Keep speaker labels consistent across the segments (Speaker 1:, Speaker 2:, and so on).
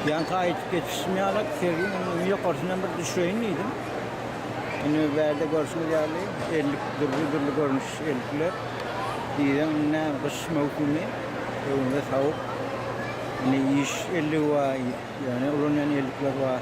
Speaker 1: Ýaňky aýdyp geçişim ýaly, sergiň öňünden ýokarsyndan bir düşeýin diýdim. Indi bärde görşüňiz ýaly, ellik dürli-dürli görnüş ellikler. Diýseň, indi näme, gyş möwsümi, öňümizde sowuk. Indi iş elligi bar, ýöne ulanýan ellikler bar.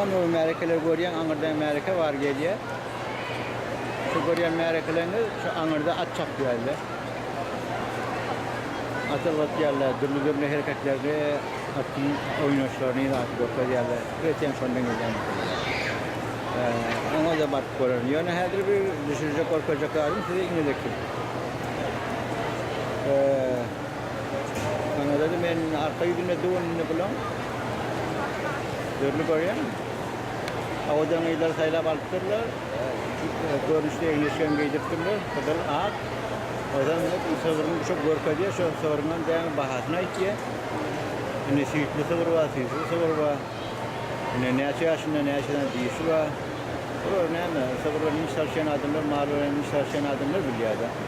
Speaker 1: Onda bir märekeler görýäň, aňyrdan märeke bar gelýär. Şu görýän märekeleriňde şu aňyrda at çapýarlar. At ylgatýarlar, dürli-dürli hereketleri, atyň oýnaşlaryny ilaty görkezýärler. Eýsem şondan gelýän maşynlar. Oňa-da baryp görerin. Ýöne häzir bir düşürjek, görkezjek zadym size inedeki. Saňa dedi men arka ýüzünde düwünini bulan dürli görýän. Awadan gyzlar saýlap alypdyrlar. Görnüşli egin-eşigem geýdiripdirler. Gyzyl, ak. Ozan sygryny şo görkezýär. Şo sygrynyň dämi bahasyny aýtýar. Indi süýtli sygyr bar, süýtsiz sygyr bar. Indi näçe ýaşynda, näçe sany dişi bar. Olar näme, sygyr bilen iş salyşýan adamlar, mal bilen iş salyşýan adamlar bilýär-de.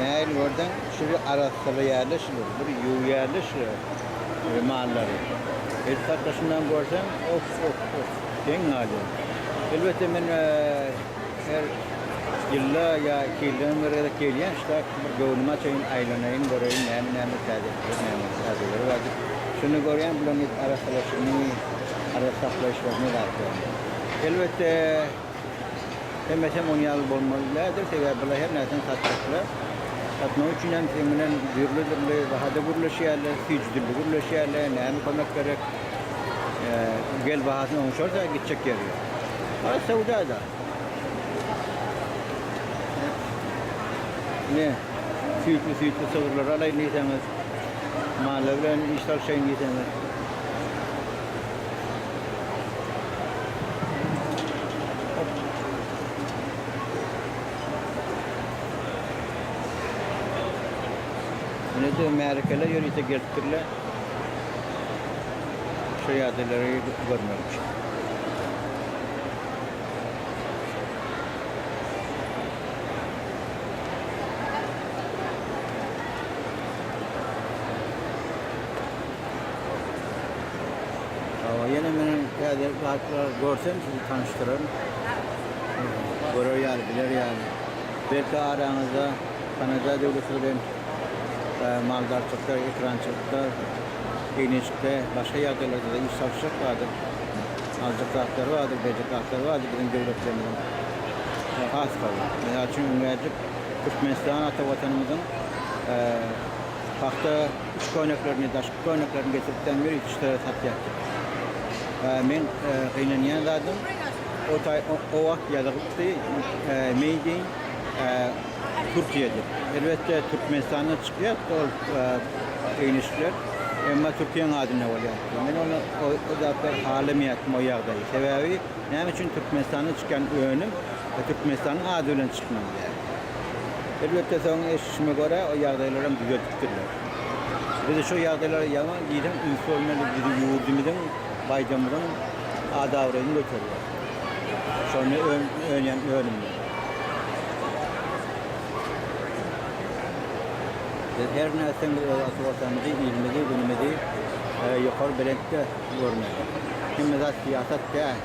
Speaker 1: Nähili görseň, şu bir arassalaýarlar şulary, bir ýuwýarlar şulary, mallary. Edil hatda şundan görseň, of-of-of, geň galýar. Elbetde, men her ýylda ýa iki ýyldan bir gezek gelýän şular, bir göwnümi açaýyn, aýlanaýyn, göreýin, näme-näme täzelikler, näme täzeleri bar diýip. Şonda görýän, bularyň edil arassalaşygyny, arassa saklaýyşlaryny zat görýän. Elbetde. Hemmesem oň ýaly bolmaly däldir, sebäbi bular her närseni satjaklar. Satmak üçin hem seň bilen dürli-dürli bahada gürleşýärler, süýji dilde gürleşýärler, näme kömek gerek, gel bahasyny oňşarsa gitjek ýeri ýok. Has söwda-da. Ine, süýtli-süýtli sygyrlary alaýyn diýseňiz, mally bilen iş salyşaýyn diýseňiz. Indi märekeler ýörite gelipdirler. Şu ýadylary görmek üçin. Hawa, ýene meniň täze zatlar görsem sizi tanyşdyraryn. Görer ýaly, biler ýaly. Belki araňyzda Kanaja döwleti bilen maldarçylykda, ekrançylykda, eýneçikde, başga ýagdaýlarda-da iş salyşjak bardyr. Aljak zatlary bardyr, berjek zatlary bardyr biziň döwletlerimiziň. Has gowy. Mysal üçin, ünäcik Türkmenistan ata Watanymyzyň pagta Yç köýneklerini, daşky köýneklerini getirip dämir ýüzüçlere satýardy. Men gynanýan zadym, o taý o wagt ýazygypdy, Made in Türkiýe diýip. Elbetde, Türkmenistandan çykýardy ol geýnişler, emma Türkiýäň adynda bolýardy. Men ony o zatlary halamaýardym, o ýagdaýy. Sebäbi näme üçin Türkmenistandan çykýan önüm Türkmenistanyň ady bilen çykmaly däl? Elbetde, soň eşidişime görä, o ýagdaýlaram düzeldipdirler. Biz şo ýagdaýlara ýaňy diýseň üns bermeli, biziň ýurdumyzyň, baýdamyzyň ad-abraýyny göterýär. Şonda önýän önümler. Biz her nätseň biz öz ata Watanymyzy, ilimizi, günümizi ýokary belentde görmeli. Hemme zat syýasat däl.